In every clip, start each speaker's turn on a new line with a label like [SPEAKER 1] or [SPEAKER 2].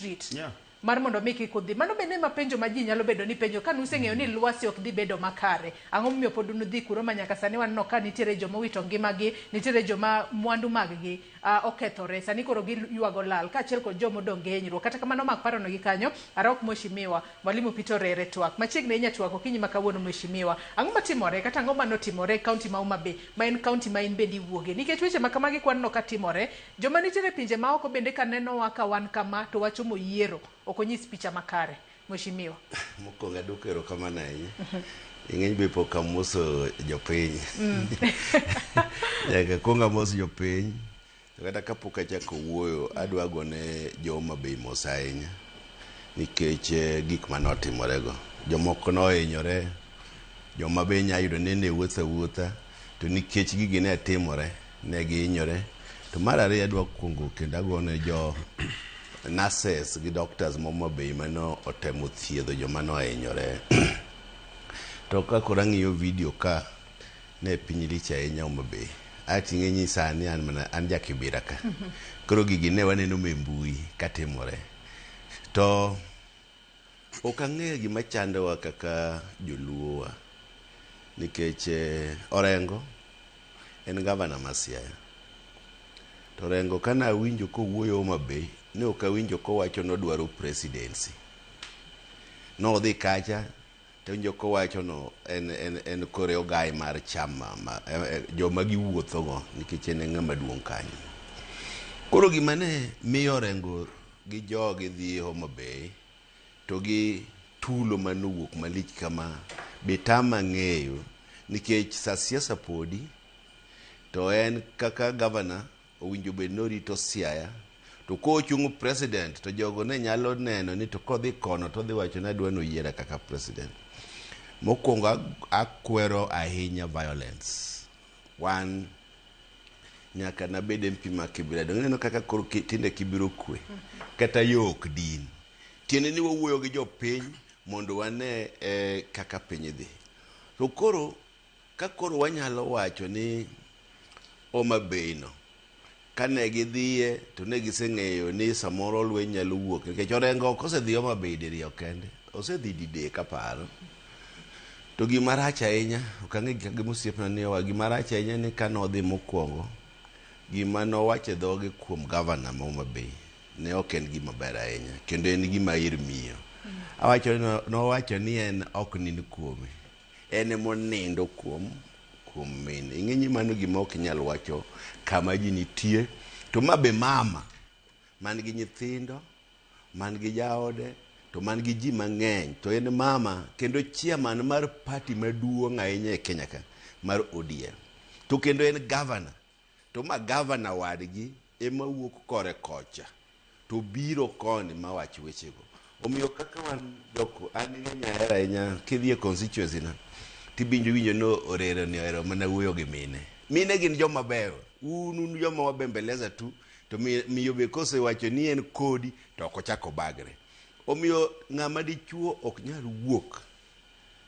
[SPEAKER 1] street yeah. mar mondo mi kik udhi mano bende ema penjo ma ji nyalo bedo ni penjo ka nuseng'eyo ni lwasi ok dhi bedo makare ang'o momiyo pod unudhi kuro ma nyaka sani waneno ka nitiere joma owito ngimagi nitiere joma mwandu maggi uh, okethore sani koro giywago lal kaachiel kod joma odong' gi hinyruok kata kamano mak parono gi kanyo arok mweshimiwa mwalimu pito rere twak machiegni inya twak okinyi ma kawuono mweshimiwa ang'o matimore kata ang'o manotimore e kaunti ma Homa Bay ma en kaunti ma in bende iwuoge nikech weche ma kamagi kwaneno ka timore Joma nitiere pinje maoko bende ka nenowa ka wan kama to wacho moyiero ok onyis picha makare. Mweshimiwa. Mokwongo adwoko
[SPEAKER 2] erokamano ahinya. Ing'eny be pok amoso jopiny. Nyaka akwong amos jopiny. To kata kapok achako wuoyo, adwa go ne jo Homa Bay mos ahinya nikech gik mane otimore go. Jomoko ne ohinyore, joma be inya yudo ni ne wuotho awuotha. To nikech gigi ne timore, ne gihinyore. To mar ariyo adwa kuongo kendo agone jo nurses gi doctors ma Homa Bay mane otemo thiedho joma ne ohinyore. To ka koro ang'iyo video ka, ne piny lich ahinya Homa Bay. Aeto ing'e ni sani an mana an ja Kibira ka. Koro gigi ne waneno ma e mbui ka timore. To Ok ang'eyo gima chandowa kaka joluowa nikech eh, Orengo en gavana ma Siaya. To Orengo ka nawinjo kowuoyo Homa Bay, ne ok awinjo kowacho nodwaro presidency. Nodhi kacha To winjo kowachono en, en, en kore ogai mar chama ma, eh, eh, joma giwuothogo nikech en e ng'ama duong' kanyo. Koro gima ne miyo orengo gi jogi dhi Homa Bay to gi tulo ma nowuok malich kama be tama ng'eyo nikech sa siasa podi to en kaka gavana Owinjo bed norito Siaya to ko ochung president to jogo ne nyalo neno ni to kodhi kono to dhi wacho ni adwa noyiera kaka president. Mokwongo akwero ahinya violence. Wan nyaka nabed MP ma Kibira donge neno kaka koro tinde Kibiro kwe kata yo ok din. Tiende ni wawuoyo gi jopiny mondo wane eh, kaka piny dhi. To koro Ka koro wanyalo wacho ni Homa Bay no kane gidhiye to ne giseng'eyo ni samoro lweny nyalo wuok nikech Orengo ok osedhi Homa Bay diriyo kende, osedhi didek aparo. To gima rach ahinya, ok ang'e gi gima osiepna ni owa, gima rach ahinya ni kane odhi mokwongo, gima nowach e dhoge kuom gavana ma Homa Bay ne ok en gima ber ahinya kendo en gima ir miyo. Awacho ni no- nowacho ni en ok nind kuome. En ema onindo kuom kuom mine. Ing'e ni mano gima ok inyal wacho kama ji nitie. To ma be mama man gi nyithindo, man gi jaode, to man gi ji mang'eny, to en mama kendo chairman mar party maduong' ahinya e Kenya ka mar ODM. To kendo en governor To ma gavana wadgi ema wuok kore kocha to biro koni ma wach wechego. Omiyo kaka wan jok an ng'eny ahero ahinya kidhi e constituency na tibinjo winjo ni orero ni ohero mana wuoyo gi mine. Mine gin joma beyo. Un un joma wabembeleza tu to miyo be kosewacho ni en kodi to ok ochako bagre. Omiyo ng'ama dichuo ok nyal wuok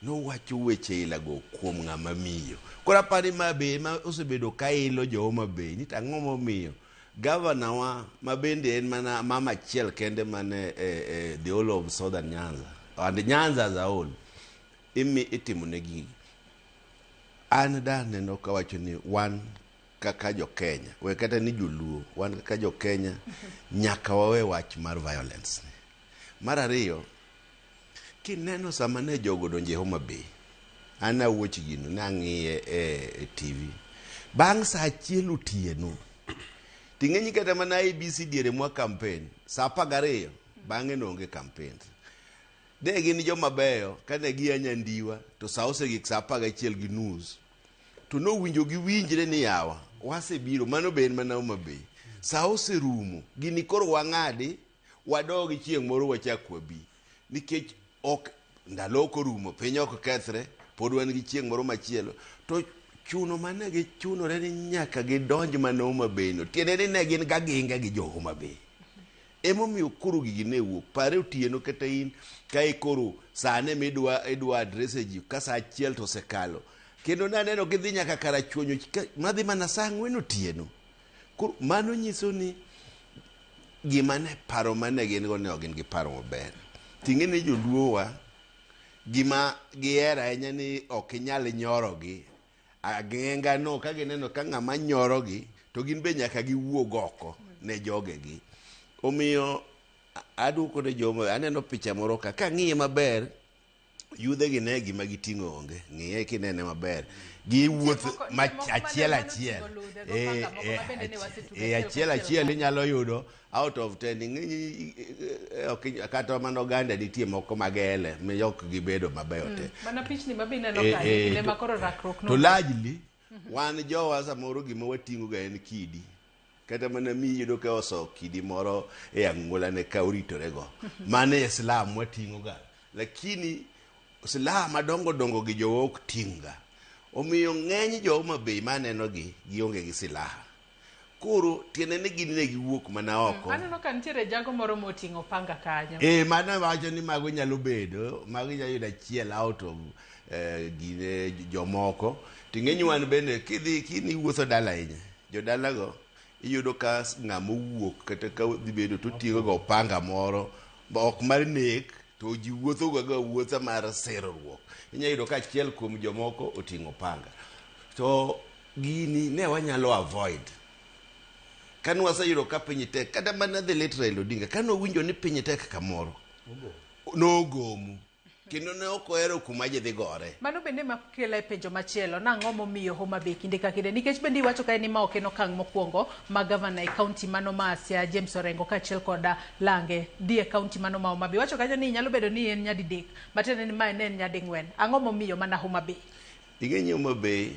[SPEAKER 2] Nowacho weche ilago kuom ng'ama miyo. Koro apani ma be ema osebedo ka ilo jo Homa Bay ni to ang'o momiyo gavana wa ma bende en mana mama achiel kende mane e, e, the whole of southern Nyanza and Nyanza as a whole imi itimo ne gigi. An da neno kawacho ni wan kaka jo Kenya, we kata ni joluo, wan kaka jo Kenya nyaka wawe wach mar violence ni. Mar ariyo Kineno sama ne jogo odonjo e Homa Bay, an ne awuoch gino, ne ang'iye e, e TV. Bang' saa achiel otieno, ting'enyi kata mana ABC diere mwa kampen, saa apar gariyo, bang'e noonge kampen. Ne gin joma beyo, kane gia Nyandiwa, to saa osegik saa apar gachiel gi nus. To nowinjo giwinjre ni yawa, wasebiro, mano be en mana Homa Bay. Saa oserumo, gini koro wang'adi, Wadogi chieng' moro wachak wabi. Nikech ok ndalo ok orumo, piny ok kethre, pod wan gi chieng' moro machielo. To chuno mane gichunore ni nyaka gidonj mana Homa Bay no. Tiende ni ne gin gaginga gi jo Homa Bay. Emomiyo koro gigi ne wuok. Pare otieno kata in ka ikoro sane midwa idwa adrese ji ka sa achiel to osekalo. Kendo naneno gidhi nyaka karachuonyo madhi mana sa ang'wen otieno. Koro mano nyiso ni gima ne paro mane gin go ne ok gin gi paro maber. Ting'e ni joluowa gima gihero ahinya ni ok inyal nyorogi. Ageng'a no ka gineno ka ng'ama nyorogi to gin be nyaka giwuog oko ne jogegi. Omiyo a- aduoko ne joma aneno picha moro ka kang'iye maber Yudhegi ne gima giting'o onge, ng'iye kinene maber. Giwuoth Nitie moko- ma nitie moko ma achiel ne nyalo achiel. ting'o ludhe, go Eh, paka moko eh, ma bende ne wasetugo eh, e achiel opich achiel achiel. inyalo yudo out of ten. Ng'eny i- i- eh, ok inya- kata mana oganda nitie moko mag ele ma ok gibedo mabeyo te. Mana pichni ma be ineno
[SPEAKER 1] Eh, kanyo, eh, kinde to- ma koro rakruok To no- largely,
[SPEAKER 2] wan jowa samoro gima wating'oga en kidi. Kata mana mi iyudo ka oso kidi moro e ang'ulane ka oritorego. Mano e Islam wating'oga. Lakini Islam madongo dongo gi jowa ok ting'ga. Omiyo ng'eny jo Homa Bay ma anenogi gionge gi silaha. Koro tiende ni gin ne giwuok mana oko. Aneno ka nitiere jago
[SPEAKER 1] moro moting'o panga kanyo. Ee, mano awacho ni
[SPEAKER 2] mago nyalo bedo, mago inyalo yudo achiel out of eh, gine jomoko. To ing'e ni wan bende kidhi kini iwuotho dala ahinya, Jodalago iyudo ka ng'ama owuok kata ka dhi bedo to otiyoga ga opanga moro ma ok mar nek to ji wuothoga ga wuotha mar sirruok. Inya yudo ka achiel kuom jomoko oting'o opanga. To gini ne wanyalo avoid kane waseyudo ka piny tek kata mana the late Raila Odinga kane owinjo ni piny tek kamoro nogomo. kendo ne ok ohero kuma ji dhi gore. Mano bende ma kela
[SPEAKER 1] e penjo machielo nang'o momiyo Homa Bay kinde ka kinde nikech bende iwacho kae ni ma ok en okang' mokwongo ma gavana e kaunti mano ma Siaya James Orengo kaachiel koda Lange dhi e kaunti mano ma Homa Bay. Iwacho kanyo ni nyalo bedo ni en nyadidek matiende ni ma ne en nyading'wen. Ang'o momiyo mana Homa Bay?
[SPEAKER 2] Ing'e
[SPEAKER 1] ni Homa Bay